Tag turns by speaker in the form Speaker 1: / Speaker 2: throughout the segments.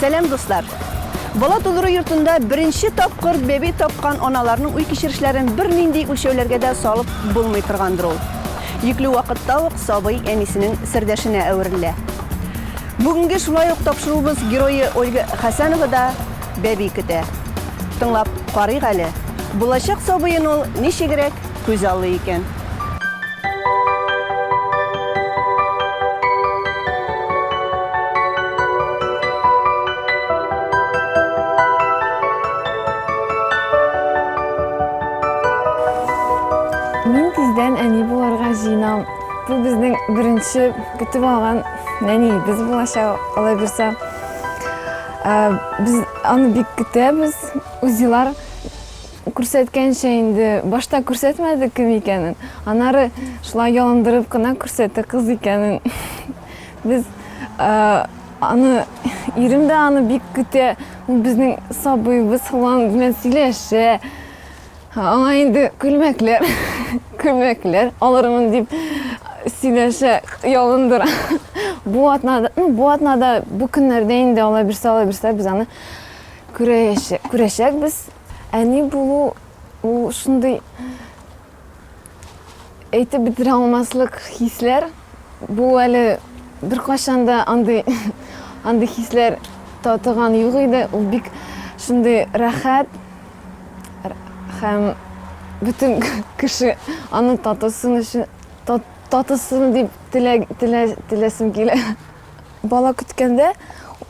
Speaker 1: Сәлам дуслар! Бала тудыру йортында беренче тапкыр бәби тапкан аналарның уй кичерешләрен бер нинди үлчәүләргә дә салып булмый торгандыр ул. Йөкле вакытта ук сабый әнисенең сердәшенә әверелә. Бүгенге шулай ук тапшыруыбыз герое Ольга Хәсәнова да бәби көтә. Тыңлап карыйк әле, булачак сабыен ул ничегрәк Күз аллый икән.
Speaker 2: Мин тиздән әни булырга җыенам. Бу безнең беренче көтеп алган нәниебез булачак, алай булса. Без аны бик көтәбез. Узилар Күрсәткәнчә инде, башта күрсәтмәде кем икәнен, аннары шулай ялындырып кына күрсәтте кыз икәнен. Без аны, ирем дә аны бик көтә, ул безнең сабыебыз флан белән сөйләшә. Аңа инде күлмәкләр, күлмәкләр алырмын дип сөйләшә, ялындыра. Бу атнада, ну, бу атнада, бу көннәрдә инде ала бирсә, ала бирсә, без аны күрәчәкбез. Әни булу ул шундый әйтеп бетерә алмаслык хисләр. Бу әле беркайчан да андый андый хисләр татыган юк иде. Ул бик шундый рәхәт һәм бөтен кеше аны татысын өчен татысын дип теләсем килә. Бала көткәндә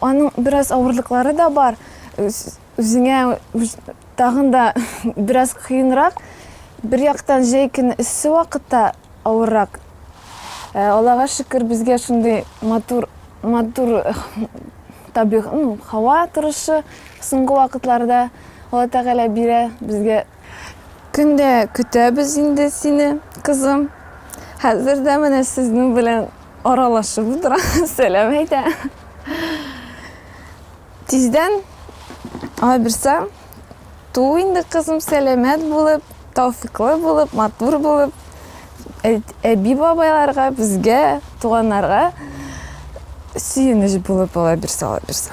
Speaker 2: аның бераз авырлыклары да бар. Үзеңә тагын да бераз кыенрак, бер яктан җәй көне эссе вакытта авыррак. Э, Аллага шөкер, безгә шундый матур матур э, табигый ну, һава торышы соңгы вакытларда Алла Тәгалә бирә безгә. Көндә көтәбез инде сине, кызым. Хәзер дә менә сезнең белән аралашып утыра, сәлам әйтә. Тиздән алай берсе туу инде кызым сәламәт булып, тауфиклы булып, матур булып, әби бабайларга, безгә, туганнарга сөенеч булып алай берсе алай берсе.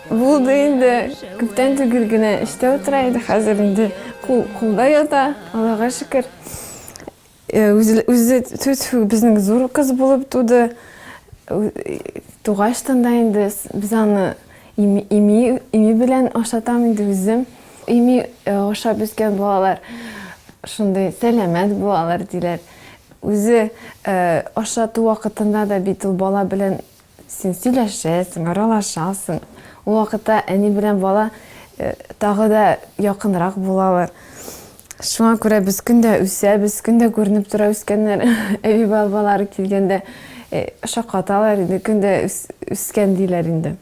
Speaker 2: Булды инде, күптән түгел генә эштә утыра иде, хәзер инде кул кулда ята, Аллага шөкер. Үзе, тьфу-тьфу, безнең зур кыз булып туды. Тугач тын да инде без аны ими, ими белән ашатам инде үзем. Ими ашап үскән балалар шундый сәламәт булалар, диләр. Үзе ашату вакытында да бит ул бала белән Син сөйләшәсең, аралашасың. Ул вакытта әни белән бала тагы да якынрак булалар. Шуңа күрә без көн дә үсәбез, көн дә күренеп тора үскәннәр. Әби бабалары килгәндә шаккаталар иде, көн дә үскән диләр инде.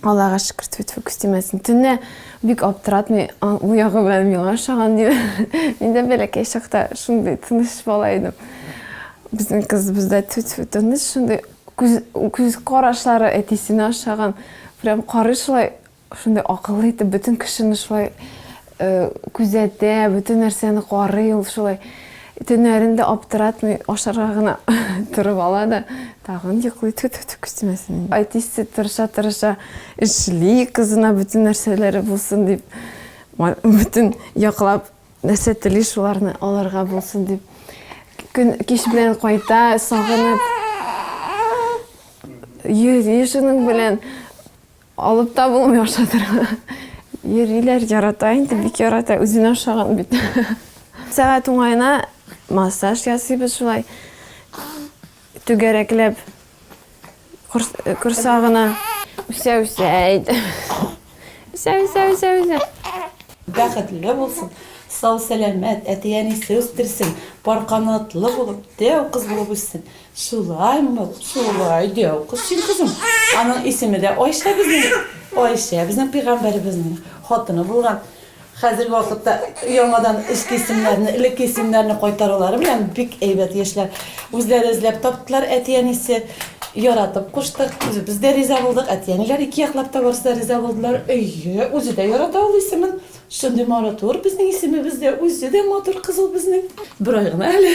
Speaker 2: Аллага шөкер, тфү-тфү, күз тимәсен. Төнлә бик аптыратмый, а, бу ягы белән миңа ошаган диде. Мин дә бәләкәй чакта шундый тыныч бала идем. Безнең кызыбыз да тфү-тфү, тыныч, шундый күз, күз карашлары әтисенә ошаган. Прям карый шулай, шундый акыллы итеп, бөтен кешене шулай Күзәтә, бөтен нәрсәне карый ул шулай. Төннәрен дә аптыратмый, ашарга гына торып ала да, тагын йоклый, тфү-тфү-тфү күчтәнәсен. Әтисе тырыша-тырыша эшли, кызына бөтен нәрсәләре булсын дип, бөтен яклап нәрсә тели, шуларны алырга булсын дип. Көн кич белән кайта, сагынып йөри шуның белән. Алып та булмый ашатырга. Йөриләр, ярата инде, бик ярата, үзенә ошаган бит. Сәгать уңаена массаж ясыйбыз шулай. Түгәрәкләп корсагына үсә үсә әйт.
Speaker 3: Үсә үсә үсә
Speaker 2: үсә.
Speaker 3: Бәхетле булсын. Сау сәламәт, әти әнисе үстерсен. Пар канатлы булып, дәү кыз булып үссен. Шулай мык, шулай дәү кыз син, кызым. Аның исеме дә Айшә безнең. Айшә безнең пигамбәребезнең хатыны булган. Хәзерге вакытта яңадан эске исемнәрне, элекке исемнәрне кайтарулары белән бик әйбәт яшьләр. Үзләре эзләп таптылар әти-әнисе. Яратып куштык, үзебез дә риза булдык, әти-әниләр ике яклап та барысы да риза булдылар. Әйе, үзе дә ярата ул исемен. Шундый маратур безнең исемебез дә, үзе дә матур кыз ул безнең. Бер ай гына әле.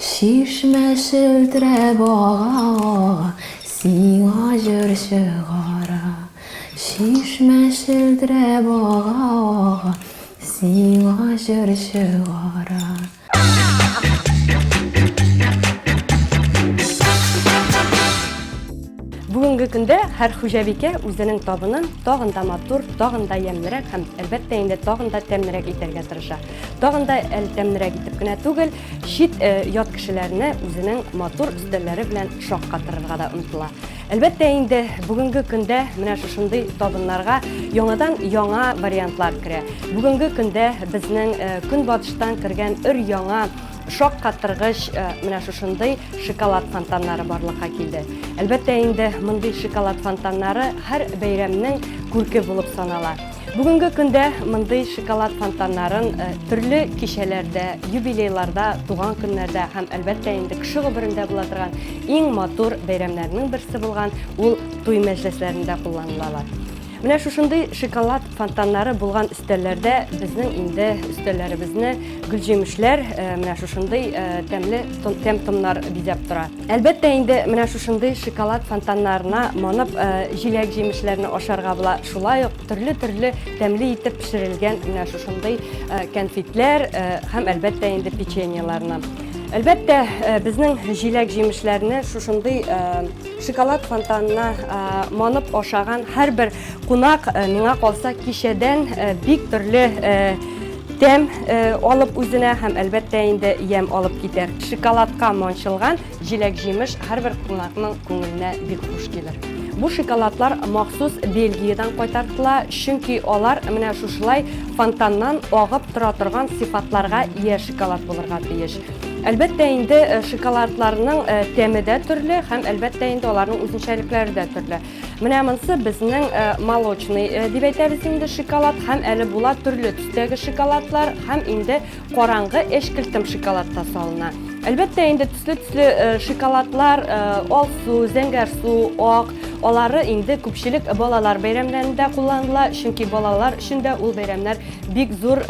Speaker 2: Чишмә челтерәп ага-ага, Сиңа җыр чыгара. Чишмә челтерәп ага-ага, Сиңа җыр чыгара.
Speaker 4: Бүгенге көндә һәр хуҗабикә үзенең табынын тагын да матур, тагын да ямьлерәк һәм, әлбәттә инде, тагын да тәмлерәк итәргә тырыша. Тагын да әле тәмнерәк итеп кенә түгел, чит э, ят кешеләрне үзенең матур өстәлләре белән шаккатырырга да омтыла. Әлбәттә инде бүгенге көндә менә шушындый табыннарга яңадан яңа вариантлар керә. Бүгенге көндә безнең э, көнбатыштан кергән өр яңа шок каттыргыч э, менә шушындый шоколад фонтаннары барлыкка килде. Әлбәттә инде мондый шоколад фонтаннары һәр бәйрәмнең күрке булып санала. Бүгенге көндә мондый шоколад фонтаннарын төрле кичәләрдә, юбилейларда, туган көннәрдә һәм, әлбәттә инде, кеше гомерендә була торган иң матур бәйрәмнәрнең берсе булган ул туй мәҗлесләрендә кулланылалар. Менә шушындый шоколад фонтаннары булган өстәлләрдә безнең инде өстәлләребезне гөлҗимешләр, менә шушындый тәмле тәм-томнар бизәп тора. Әлбәттә инде менә шушындый шоколад фонтаннарына манып, җиләк-җимешләрне ашарга була. Шулай ук төрле-төрле тәмле итеп пешерелгән менә шушындый кәнфитләр һәм әлбәттә инде печеньеларны. Әлбәттә, безнең җиләк-җимешләрне шушындый шоколад фонтанына манып ашаган һәрбер Кунак, миңа калса, кичәдән бик төрле тәм алып үзенә һәм әлбәттә инде ямь алып китәр. Шоколадка манчылган җиләк-җимеш һәрбер кунакның күңеленә бик хуш килер. Бу шоколадлар махсус Бельгиядән кайтартыла, чөнки алар менә шушылай фонтаннан агып тора торган сыйфатларга ия шоколад булырга тиеш. Әлбәттә инде, шоколадларның тәме дә төрле һәм әлбәттә инде аларның үзенчәлекләре дә төрле. Менә монсы безнең э, молочный э, дип әйтәбез инде шоколад һәм әле була төрле төстәге шоколадлар һәм инде караңгы эшкелтем шоколад та салына. Әлбәттә инде төсле-төсле э, шоколадлар, алсу, зәңгәр су, ак, алары инде күпчелек балалар бәйрәмнәрендә кулланыла, чөнки балалар өчен дә ул бәйрәмнәр бик зур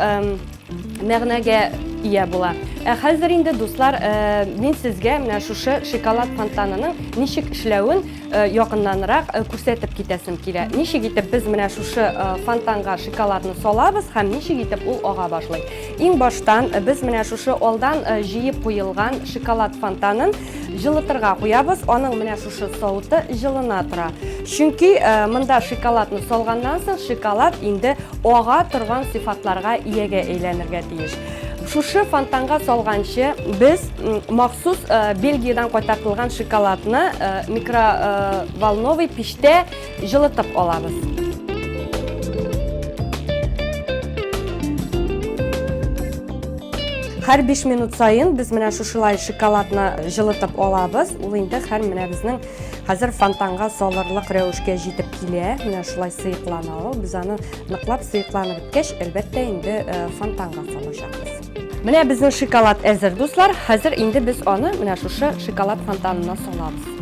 Speaker 4: мәгънәгә ия була. Ә хәзер инде дуслар, мин сезгә менә шушы шоколад фонтанының ничек эшләвен Э, якыннанрак э, күрсәтеп китәсем килә. Ничек итеп без менә шушы э, фонтанга шоколадны салабыз һәм ничек итеп ул ага башлый. Иң баштан без менә шушы алдан җыеп куелган шоколад фонтанын җылытырга куябыз. Аның менә шушы сауыты җылына тора. Чөнки монда шоколадны салганнан соң шоколад инде ага торган сыйфатларга иягә әйләнергә тиеш. Шушы фонтанга салганчы без махсус э, Бельгиядан кайтартылган шоколадны э, микроволновый пиштә җылытып алабыз. Хәр 5 минут сайын без менә шушылай шоколадны җылытып алабыз. Ул инде хәр менә безнең Хәзер фонтанга салырлык рәвешкә җитеп килә. Менә шулай сыеклана ул. Без аны ныклап сыекланып беткәч, әлбәттә, инде э, фонтанга салачакбыз. Менә безнең шоколад әзер, дуслар. Хәзер инде без аны менә шушы шоколад фонтанына салабыз.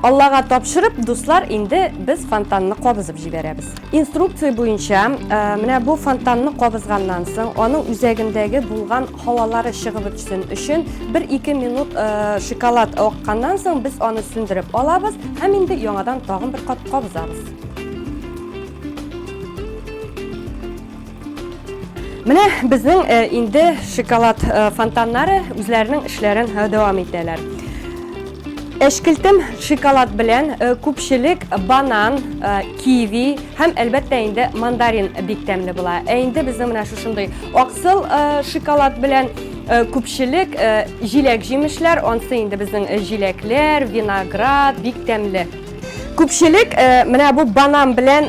Speaker 4: Аллага тапшырып, дуслар, инде без фонтанны кабызып җибәрәбез. Инструкция буенча, менә бу фонтанны кабызганнан соң, аның үзәгендәге булган һавалары чыгып бетсен өчен, 1-2 минут шоколад акканнан соң, без аны сүндереп алабыз һәм инде яңадан тагын бер кат кабызабыз. Менә безнең э, инде шоколад э, фонтаннары үзләренең эшләрен э, дәвам итәләр. Әшкелтем шоколад белән э, күпчелек банан, э, киви һәм әлбәттә инде мандарин бик тәмле була. Ә инде безнең менә шушындый аксыл э, шоколад белән күпчелек җиләк җимешләр, ансы инде безнең җиләкләр, виноград бик тәмле Күпчелек менә бу банан белән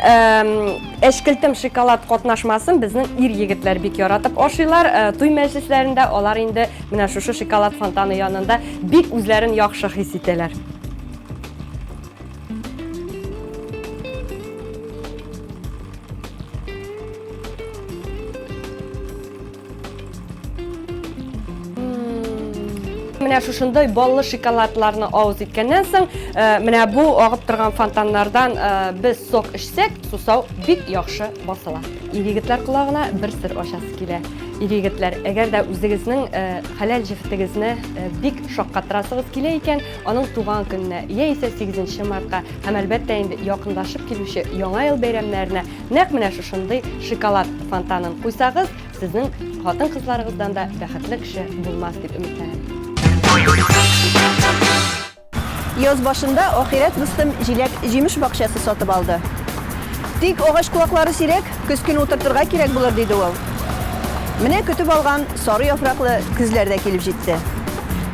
Speaker 4: әчкелтем шоколад катнашмасын безнең ир-егетләр бик яратып ашыйлар. Туй мәҗлесләрендә алар инде менә шушы шоколад фонтаны янында бик үзләрен яхшы хис итәләр. Менә шушындай баллы шоколадларны авыз иткәннән соң, э, менә бу агып торган фонтаннардан э, без сок эчсәк, сусау бик яхшы басыла. Ир-егетләр колагына бер сер ачасы килә. Ир-егетләр, әгәр дә үзегезнең э, хәләл җефетегезне бик шаккатырасыгыз килә икән, аның туган көненә яисә 8 мартка һәм әлбәттә инде якындашып килүче Яңа ел бәйрәмнәренә Нәкъ менә шушындый шоколад фонтанын куйсагыз, сезнең хатын-кызларыгыздан да бәхетле кеше булмас дип өметләнәм.
Speaker 1: Яз башында ахирәт дустым җиләк җимеш бакчасы сатып алды. Тик агач куаклары сирәк, көз көн утыртырга кирәк булыр диде ул. Менә көтеп алган сары яфраклы көзләр дә килеп җитте.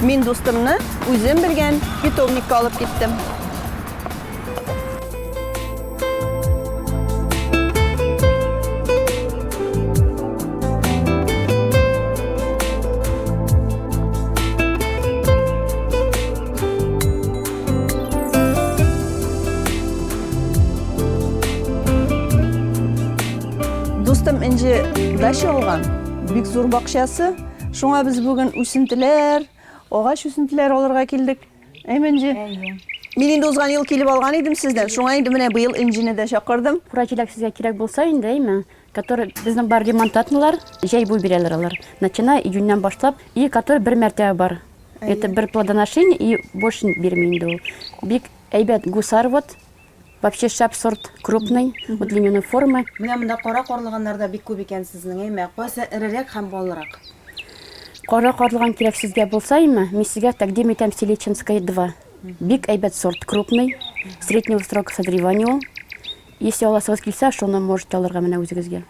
Speaker 1: Мин дустымны үзем белгән питомникка алып киттем. Дустым инде дача алган, бик зур бакчасы. Шуңа без бүген үсентеләр, агач үсентеләр алырга килдек. Әйме, Энҗе? Әйе. Мин инде узган ел килеп алган идем сездән, шуңа инде менә быел Энҗене дә чакырдым. Кура җиләк сезгә кирәк
Speaker 5: булса инде, әйме, который безнең бар ремонт атмыйлар, җәй буе бирәләр алар. Начиная июньнән башлап, и который бер мәртәбә бар. Это бер плодоношение и больше бирми инде ул. Бик әйбәт гусар вот, Вообще шәп сорт, крупный, вот льняной формы. Менә монда кара
Speaker 6: карлыганнар да бик күп икән сезнең, әйме? Кайсы эрерәк һәм баллырак? Кара
Speaker 5: карлыган кирәк сезгә булса, әйме, мин сезгә тәкъдим итәм Селичинская 2. Бик әйбәт сорт, крупный, среднего срока созревания ул. Если аласыгыз килсә, шуны можете алырга менә үзегезгә.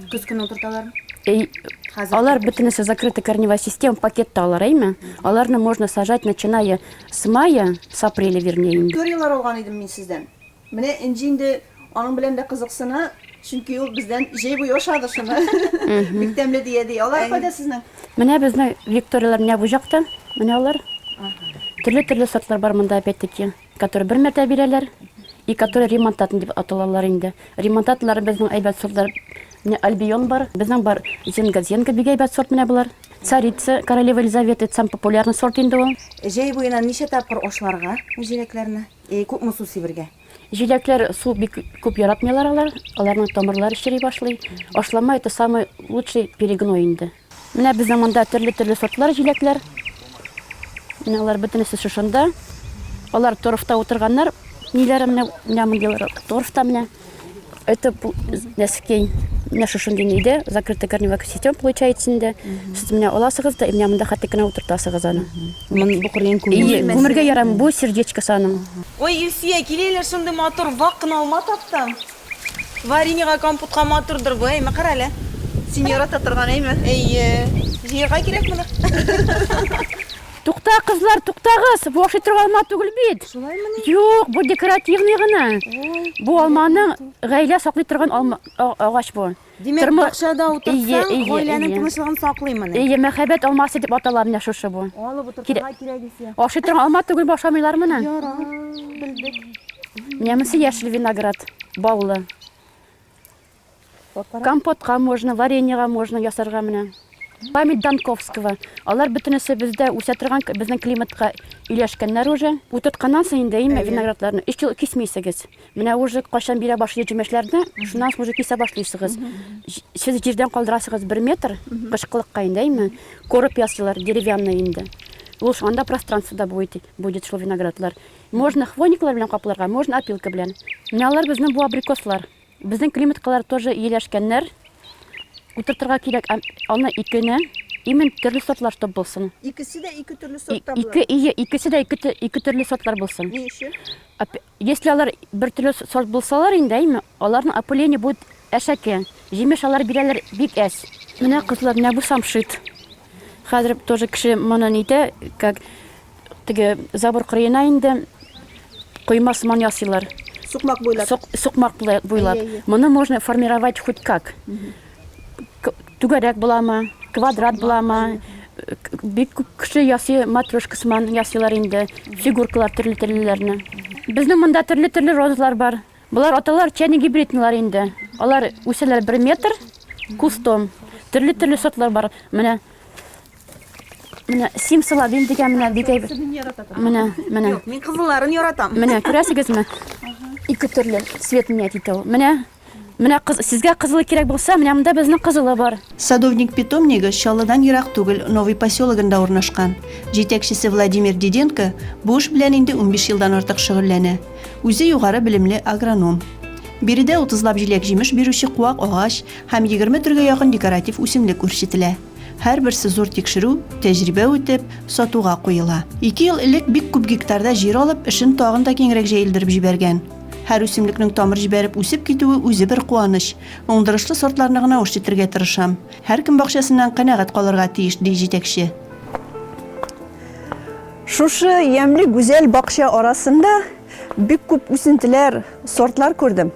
Speaker 5: Көз көне
Speaker 6: утырталар. Әй, Хәзер
Speaker 5: алар бөтенесе закрытый корневая система пакетта алар, әйме? Аларны можно сажать, начиная С мая, с апреля вернее инде. Историяләр алган идем мин
Speaker 1: сездән. Менә Энҗе инде аның белән дә кызыксына, чөнки ул бездән җәй буе ашады шуны. Бик тәмле дия, ди. Алар кайда сезнең? Менә безнең
Speaker 5: викторияләр менә бу җакта. Менә алар. Төрле-төрле сортлар бар монда опять-таки, которые бер мәртәбә бирәләр и которые ремонтатный дип аталалар инде. Ремонтатныйлары безнең әйбәт сортлар. Менә Альбион бар, безнең бар Зенга, Зенга бик әйбәт сорт менә болар. Царица, королева Елизавета, это самый популярный сорт инде ул. Җәй буена ничә
Speaker 6: тапкыр ашларга бу җиләкләрне? И күпме су сибергә? Җиләкләр су
Speaker 5: бик күп яратмыйлар алар, аларның тамырлары чери башлый. Ашлама это самый лучший перегной инде. Менә безнең монда төрле-төрле сортлар җиләкләр. Менә алар бөтенесе шушында. Алар торфта утырганнар, ниләре менә, менә мондыйлар торфта менә. Это нәскәй менә шушы генейдә закрытый корневая сетем получается инде сез менә аласыгыз да менә монда хәтта кенә утыртасыгыз аны бу кырыен
Speaker 6: күмергә ярам
Speaker 5: бу сердечкасы аның
Speaker 6: ой илсөя киләләр шундый матур вак кына алма таптым вареньега компотка матурдыр бу әйме кара әле син ярата
Speaker 1: торган әйме әйе
Speaker 6: җыярга кирәк моны
Speaker 5: Тукта, кызлар, туктагыз! Бу ашый торган алма түгел бит. Шулаймыни? Юк, бу декоративный гына. Бу алманың гаилә саклый торган алма агач бу. Димәк, Тормы... бакчада
Speaker 6: утырсаң, гаиләнең тынычлыгын саклыймыни?
Speaker 5: Ие,
Speaker 6: мәхәббәт алмасы
Speaker 5: дип атала менә шушы бу. Алып утырсаң,
Speaker 6: кирәк исә. Ашый торган алма түгел
Speaker 5: башамыйлар моны. Яра,
Speaker 6: белдек. Менә
Speaker 5: монысы яшел виноград, баллы. Компотка можно, вареньега можно ясарга менә. Память Данковского. Алар бөтенесе бездә үсә торган, безнең климатка иләшкәннәр уже. Утыртканнан соң инде име виноградларны өч ел кисмисегез. Менә уже кайчан бирә башлый җимешләрне, шуннан соң уже кисә башлыйсыгыз. Сез җирдән калдырасыгыз бер метр, кышкылыкка инде име, корып ясыйлар, деревянный инде. Ул анда пространствода будет, будет шул виноградлар. Можно хвойниклар белән капларга, можно опилка белән. Менә алар безнең бу абрикослар. Безнең климаткалар тоже ияләшкәннәр. Утыртырга кирәк аны икене. Именно төрле сортлар чтоб булсын. Икесе дә ике төрле
Speaker 1: сортта булыр. Ике ие, икесе дә ике
Speaker 5: ике төрле сортлар булсын. Ни
Speaker 1: өчен? Если алар
Speaker 5: бер төрле сорт булсалар инде, әйме, аларның опыление будет әшәке. Җимеш алар бирәләр бик әз. Менә кызлар, менә бу самшит. Хәзер тоже кеше моны нитә, как теге забор кырыена инде койма сыман ясыйлар. Сукмак буйлап. Сок,
Speaker 1: сукмак буйлап. Әйе,
Speaker 5: әйе. Моны можно формировать хоть как. К- Түгәрәк буламы, квадрат буламы, к- бик күп кеше ясый матрешка сыман ясыйлар инде, фигуркалар төрле төрлеләрне. Безнең монда төрле төрле розалар бар. Болар аталар чайно-гибридныйлар инде. Алар үсәләр бер метр кустом. Төрле-төрле сортлар бар. Менә Менә сим салабин дигән менә бик әйбәт. Менә, менә. Юк, мин кызылларын яратам.
Speaker 6: Менә күрәсегезме?
Speaker 5: Ике төрле цвет меня итә ул. Менә Менә кыз, сезгә кызылы кирәк булса, менә монда безнең кызылы бар. Садовник питомнигы
Speaker 1: Чаллыдан ерак түгел Новый поселогында урнашкан. Җитәкчесе Владимир Диденко бу эш белән инде унбиш елдан артык шөгыльләнә. Үзе югары белемле агроном. Биредә 30 лап җиләк-җимеш бирүче куак агач һәм 20 төргә якын декоратив үсемлек үрчетелә. Һәрберсе зур тикшерү, тәҗрибә үтеп, сатуга куела. Ике ел элек бик күп гектарда җир алып, эшен тагын да киңрәк җәелдереп җибәргән. Һәр үсемлекнең тамыр җибәреп үсеп китүе үзе бер куаныч. Уңдырышлы сортларны гына үрчетергә тырышам. Һәркем бакчасыннан канәгать калырга тиеш, ди җитәкче. Шушы ямьле гүзәл бакча арасында бик күп үсентеләр, сортлар күрдем.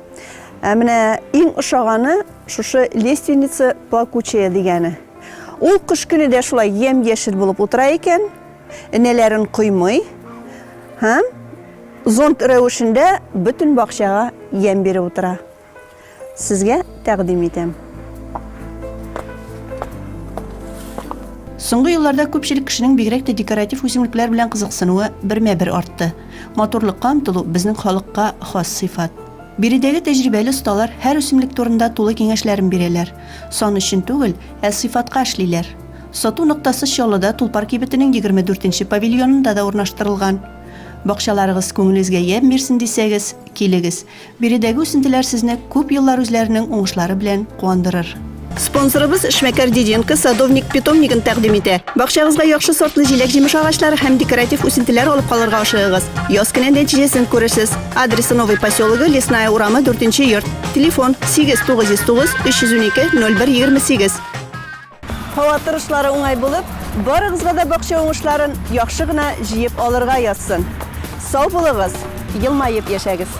Speaker 1: Ә менә иң ошаганы шушы лественница плакучая дигәне. Ул кыш көне дә шулай ямь-яшел булып утыра икән, энәләрен коймый һәм зонт рәвешендә бөтен бакчага ямь биреп утыра. Сезгә тәкъдим итәм. Соңгы елларда күпчелек кешенең бигрәк тә декоратив үсемлекләр белән кызыксынуы бермә-бер артты. Матурлыкка омтылу безнең халыкка хас сыйфат. Биредәге тәҗрибәле осталар һәр үсемлек турында тулы киңәшләрен бирәләр. Сан өчен түгел, ә сыйфатка эшлиләр. Сату ноктасы Чаллыда Тулпар кибетенең егерме дүртенче павильонында да урнаштырылган. Бакчаларыгыз күңелегезгә ямь бирсен дисәгез, килегез. Биредәге үсентеләр сезне күп еллар үзләренең уңышлары белән куандырыр. Спонсорыбыз эшмәкәр Диденко садовник питомнигын тәкъдим итә. Бакчагызга яхшы сортлы җиләк-җимеш агачлары һәм декоратив үсентеләр алып калырга ашыгыгыз. Яз көне нәтиҗәсен күрерсез. Адресы Новый поселогы, Лесная урамы, 4 нче йорт. Телефон 8 909 312 01 28. Һава торышлары уңай булып, барыгызга да бакча уңышларын яхшы гына җыеп алырга язсын. Сау булыгыз, елмаеп яшәгез!